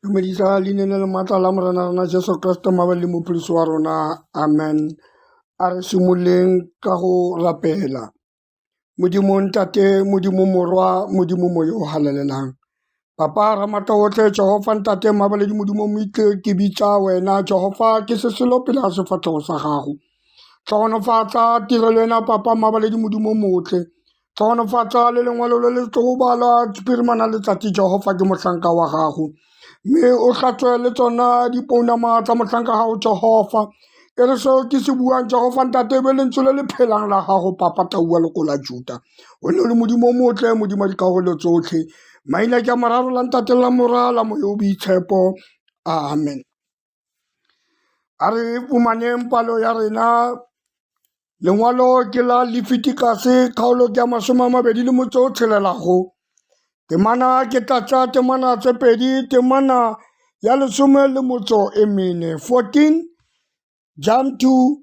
Namedisa leina le maatla la morena rena Jesu Kriste mabali mopholosi wa rona amen a re simoleng ka go rapela modimo ntate modimo morwa modimo moyo o halalelang Papa Ramata otlhe Jehova ntate mabaledi modimo moitle ke bitsa wena Jehova ke se selo pele ga sefatlhego sa gago tlhogonofatsa tirelo ena papa mabaledi modimo motle tlhogonofatsa le lengwalo le le tlo bala pirimana letsatsi Jehova ke motlhanka wa gago mme o hlatswe le tsona dipounama tsa motlhanka gago Jehova e re seo ke se buang Jehova ntate be lentswe le le phelang la gago papa taua loko la Juda o ne o le modimo o motle modimo wa dikarolo tsotlhe maina ke a moraro la ntate la mora la moyo o boitshepo amen a re fumaneng palo ya rena lengwalo ke la lefitikase kgaolo ke ya masome a mabedi le motse o tshelelago temana ke tlatsa temana tse pedi temana ya lesome le motso e mene 14 jump to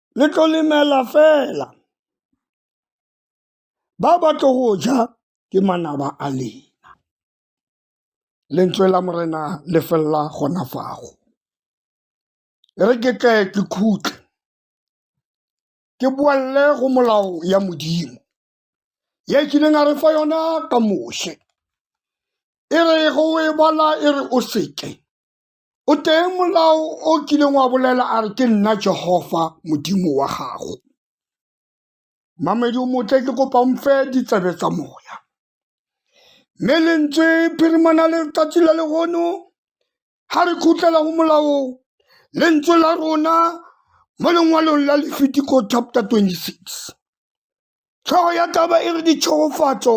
le tlo lemela fela ba ba tlo go ja ke manaba a lena lentswe la morena le felela gona fago re ke tle ke khutle ke boalle go molao ya modimo ye kileng a re fa yona ka moshe e re go e bala e re o seke O teng molao o kileng wa bolela a re ke nna Jehova Modimo wa gago. Mamedi o motle ke kopa mfe ditsebe tsa moya. Mme lentswe phirimana letsatsi la legono ha re khutlela go molao lentswe la rona mo lengwalong la Lefitiko chapter 26. Tlhogo ya taba e re ditšhogofatso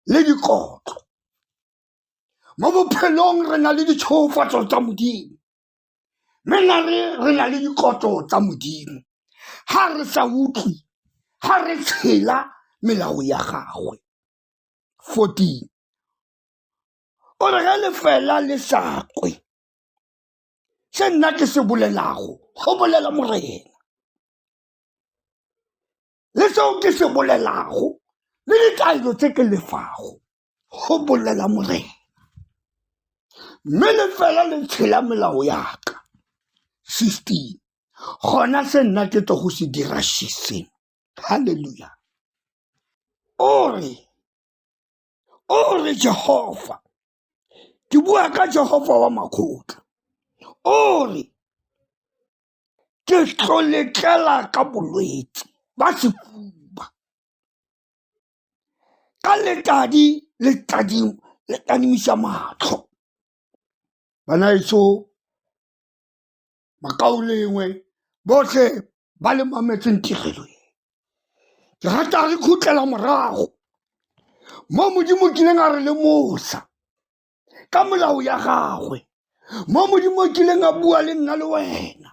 le dikotlo. mo bophelong re na le ditshogofatso tsa modimo mme na re re na le dikotlo tsa modimo ga re sa utlwe ga re tshela melao ya gagwe 14 o re ge lefela le sa kwe se nna ke se bolelago go bolela morena le seo ke se bolelago le ditaelo tse ke lefago go bolela morena mme le fela le tshela melao yaka fifteen gona se nna ke tlo go se dira shiseng halleluja ore ore jehova ke bua ka jehova wa makgotla ore ke tlo letlela ka bolwetse ba sefuba ka letadi le tadimisa matlho bana etso makao lengwe botlhe ba le mametseng tirelo e ke rata re khutlela morago mo modimo kileng a re le mosa ka molao ya gagwe mo modimo o kileng a bua le nna le wena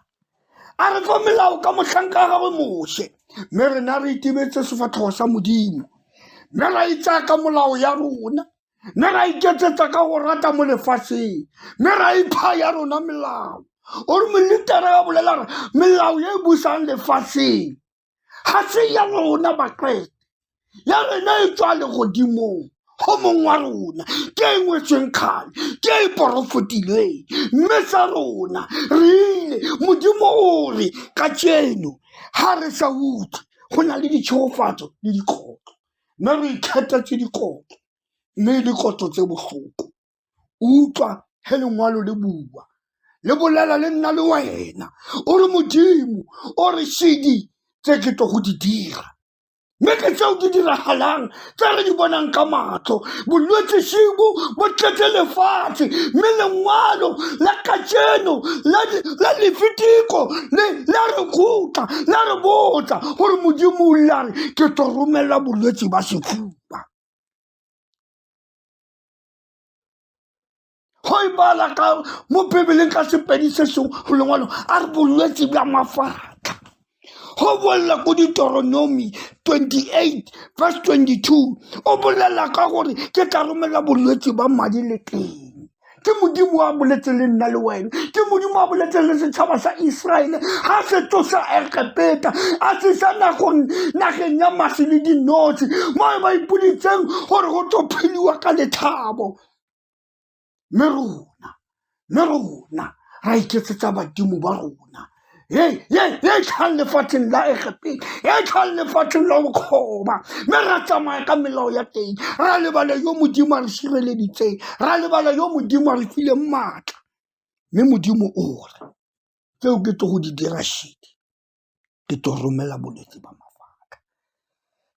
a re fa melao ka motlhanka wa gagwe moshe mme rena re itebetse sefatlhogo sa modimo mme ra itsaya ka molao ya rona mme ra iketsetsa ka go rata mo lefatsheng mme ra ipha ya rona melao o re molitara ya bolela re melao e e busang lefatsheng ga se ya rona bakrete ya rena e tswa le godimong go mong wa rona ke e ngwetsweng kgale ke e porofotilweng mme sa rona re ile modimo o re ka tseno ga re sa utlwe go na le ditšhegofatso le dikgotlo mme re ikgethetse dikgotlo mme dikgotlo tse botlhoko utlwa he lengwalo le bua le bolela le nna le wena o re modimo o re shedi tse ke tlo go di dira mme ke tseo di diragalang tse re di bonang ka matlho bolwetse shibo bo tletse lefatshe mme lengwalo la kajeno la lefitiko le la re khutla la re botsa gore modimo o lare ke tlo romelela bolwetse ba sefuba go e bala ka mo bebeleng ka sepedi se seng go lengwalo a re bolwetse bja mafatlha go bolela ko ditoronomi 28 verse 22 o bolela ka gore ke tla romela bolwetse ba madi le teng ke modimo wa boletse le nna le wena ke modimo a boletseng le setšhaba sa iseraele ga se tsosa egepeta a tsesa nagong nageng ya masi le dinotshe mo e ba ipoditseng gore go tlo pheliwa ka letlhabo mme rona mme rona ra iketsetsa badimo ba rona Hey, hey, hey, tlhang lefatsheng la egepeng e tlhang lefatsheng la bokgoba mme ra tsamaya ka melao ya teng ra lebala yo modimo a re sireleditseng ra lebala yo modimo a re fileng maatla mme modimo o re tseo ke tlo go di dira shedi ke tlo romela bolwetse ba mafaka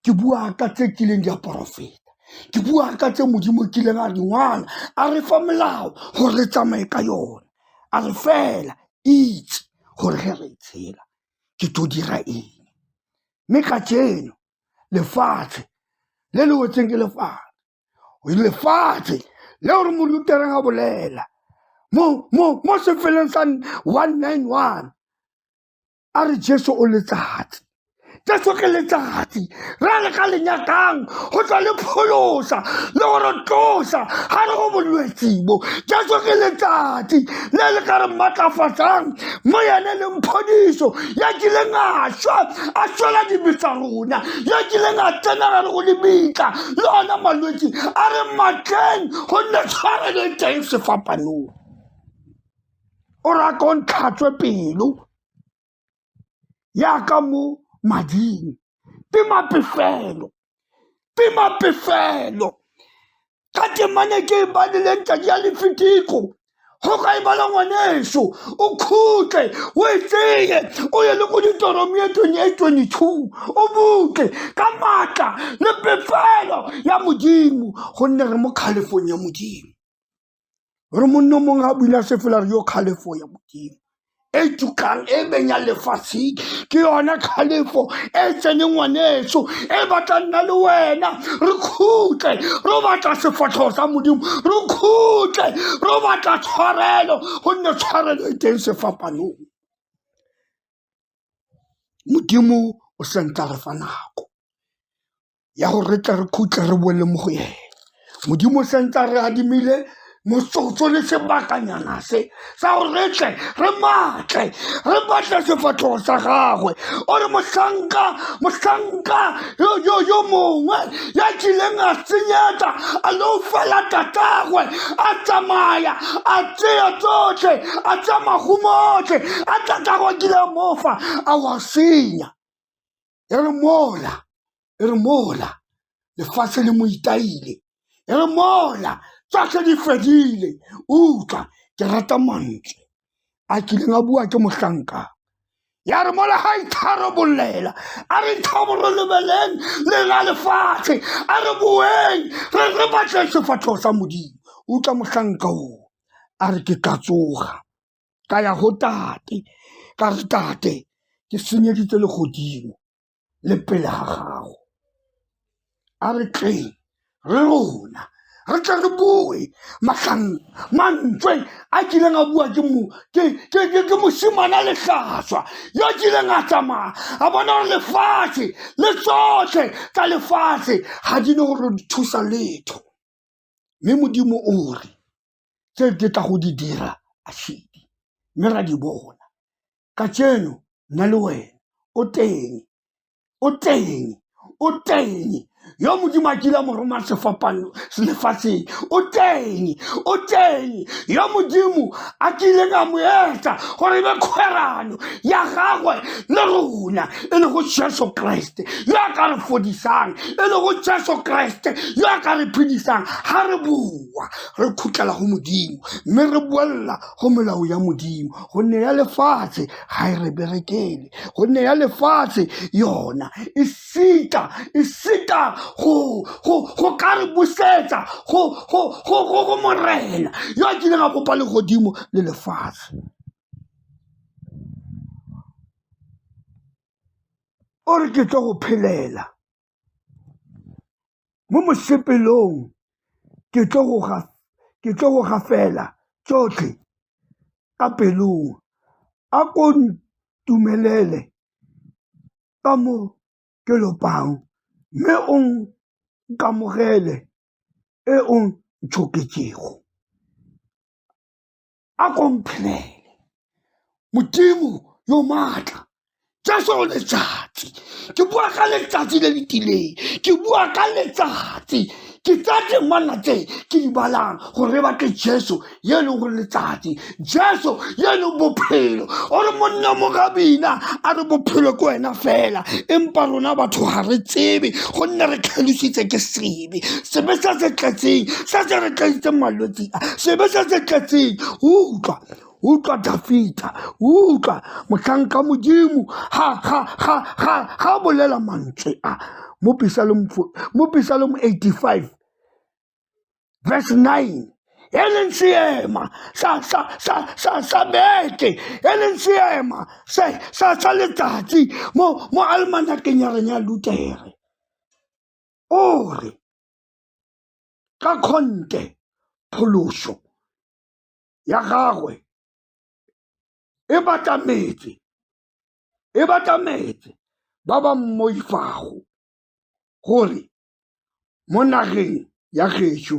ke bua ka tse kileng di a porofeta ke bua ka tse modimo o kileng a di ngwala a re fa molao gore re tsamaye ka yone a re fela itse gore ge re tshela ke to dira eng mme ka jeno lefatshe le le wetseng ke lefatshe lefatshe le gore morutereng a bolela mo sefeleng sa one nine one a re jesu o letsatsi jesu ke letsatsi ra le ka lenyakang go tswa le pholosa le go re tlosa ga re go bolwetsibo jesu ke letsatsi le le ka re maatlafatsang mo yene le mphodiso ya kileng a swa a swela dibisa rona ya kileng a tsena ga re go lebitla le ona malwetsi a re matleng gonne tshware le teng sefapanong o ra ko ntlhatswe pelo yaka mo mading tima pefelo tima pefelo ka temane ke e badileng tadi ya lefitiko go ka e bala ngwaneso o khutle o e tseye o ye le go ditoromi e twenye e twenye two o butle ka maatla le pefelo ya modimo gonne re mo kgalefong ya modimo Re monna o mongwe a buile a sefela re yo kgalefo ya modimo e tukang e beng ya lefatsheng ke yone kgalefo e tseneng ngwaneso e batla nna le wena re khutle ro batla sefatlhego sa modimo re khutle ro batla tshwarelo gonne tshwarelo e teng sefapanong modimo o sentla re fa nako ya gore re tle re khutle re boele mo go ene modimo sentse re adimile motsotso le sebakanyana se sa gore re tle re matle re batle sefatlhogo sa gagwe o re motlhanka motlhanka yo yo yo mongwe ya kileng a senyetsa a lo fela tatagwe a tsamaya a tseya tsotlhe a tsa mahumotlhe a tatago kile mofa a wa senya e re mola e re mola lefatshe le mo itaile e re mola tsotlhe di fedile utlwa ke rata mantswe a kileng a bua ke mohlanka ya re mola ga itharabolela a re tlhaboro lebeleng le la lefatshe a re boeng re re batle sefatlhego sa modimo utlwa mohlanka o a re ke ka tsoga ka ya go tate ka re tate ke senyeditse le godimo le pele ga gago a re tleng re rona re tle re boe magang mantswe a kileng a bua ke mo ke ke ke ke mosimana letlhaswa yo a kileng a tsamaya a bona gore lefatshe le tsotlhe tsa lefatshe ga di ne gore di thusa letho mme modimo o re tse ke tla go di dira a shedi mme ra di bona ka tseno nna le wena o teng o teng o teng yo modimo a kila mo roma sefapano lefatsheng o teng o teng yo modimo a kile ka mo etsa gore be kgwerano ya gagwe le rona e le go jesu kreste yo a ka re fodisang e le go jesu kreste yo a ka re phedisang ga re boa re khutlela go modimo mme re boelela go melao ya modimo gonne ya lefatshe ga e re berekele gonne ya lefatshe yona e sita e sita go ka re busetsa go morena yo a kileng a kopa legodimo le lefatshe o re ke tlo go phelela mo mosepelong ke tlo go gafela tsotlhe ka pelong a ko ntumelele ka mo ke lopang mme o nkamogele e o ntšhoketsego. a komphenele modimo yo maatla jaso letsatsi ke bua ka letsatsi le le tileng ke bua ka letsatsi ke tsa temana tse ke di balang gore re batle jesu ye e leng gore letsatsi jesu ye e leng bophelo o re monna mogabina a re bophelo ke wena fela empa rona batho ga re tsebe gonne re tlhalositse ke seng baby sebe sa se tletseng sa se re tlaitseng malwetse a sebe sa se tletseng utlwa utlwa dafita utlwa motlhanka modimo ga ga ga ga ga bolela mantswe a mo pisalong mo pisalong 85 verse 9 e leng seema sa sa sa sa sa beke e leng seema se sa sa letsatsi mo mo almanakeng ya rena ya lutere o re ka kgonte pholoso ya gagwe e batla metse e batla metse ba ba mmoifago gore mo nageng ya gešo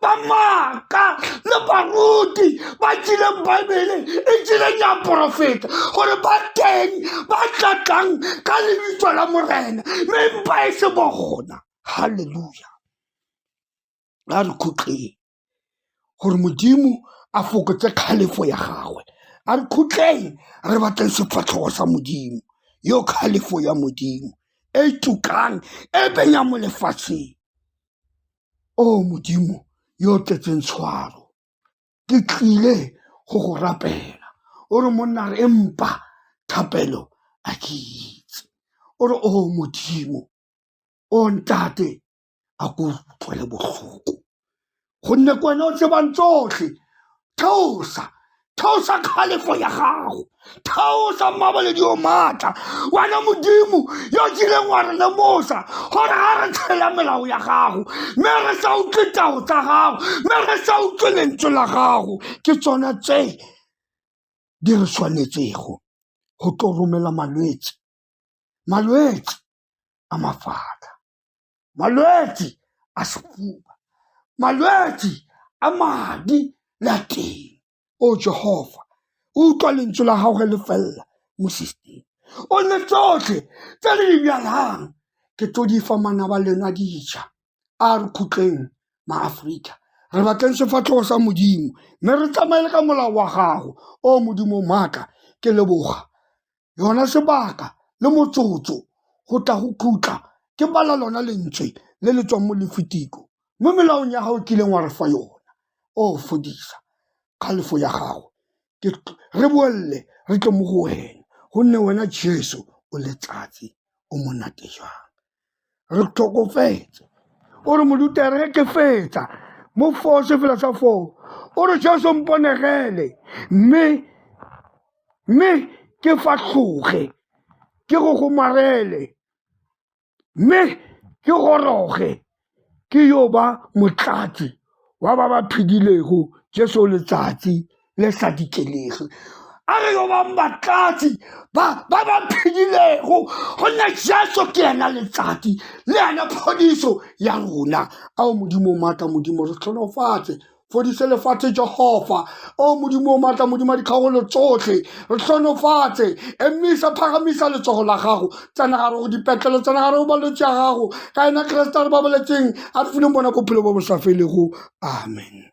ba maaka le baruti ba tsileng baebele e tsileng ya porofeta gore ba teng ba tlatlang ka lebitso la morena mme mpa e se bogona halleluja a re khutleng gore modimo a fokotse kgalefo ya gagwe a re khutleng re batleng sefatlhogo sa modimo yo kgalefo ya modimo e tukang e benya mo lefatsheng O Modimo yo o tletseng tshwaro, ke tlile go go rapela. O re monna re empa thapelo a ke itse. O re o Modimo, o ntate a ko utlwele botlhoko gonne ke wena o tsebang tsotlhe theosa theosa kgalefo ya gago theosa mmaboledi o maatla wena modimo yo o kileng wa re lemosa gore ga re tshela melao ya gago mme re sa utlwe tao tsa gago mme re sa utlwe lentswe la gago ke tsona tse di re tshwanetsego go tlo romela malwetse malwetsi a mafatlha, malwetsi a sehuba, malwetsi a madi le a teng. O Jehofa utlwa lentswe la gago le felela mo system-ing o ne tsotlhe tse le di bjalang ke tlo di fa manaba lena dija a re khutleng maaforika re batleng sefatlhogo sa modimo mme re tsamaele ka molao wa gago o modimo maaka ke leboga yona sebaka le motsotso go tla go khutla ke bala lona lentswe le le tswang mo lefitiko mo melaong ya gago kileng wa re fa yona o fodisa kgalefo ya gago re boelele re tle mo go wena gonne wena jesu o letsatsi o monate jang re tlhokofetse o re modute re ke fetsa mo foo se fela sa foo o re jesu mponegele mme mme ke fa tlhoge ke go gomarele mme ke goroge ke yo ba motlatsi wa ba ba phedilego Jesu letsatsi le sa dikelegi a re yo bang batlatsi ba ba ba phedilego gonne Jesu ke ena letsatsi le ena phodiso ya rona ao modimo maatla modimo re tlhonofatse fodise lefatshe jehova o modimo o maatla modimo a ditlhogolo tsotlhe re tlhonofatse emisa phagamisa letsogo la gago tsena gare go dipetlelo tsena gare go balwetse ya gago ka ena keresete a re babaletseng a re fileng bona bophelo bo bo sa felego amen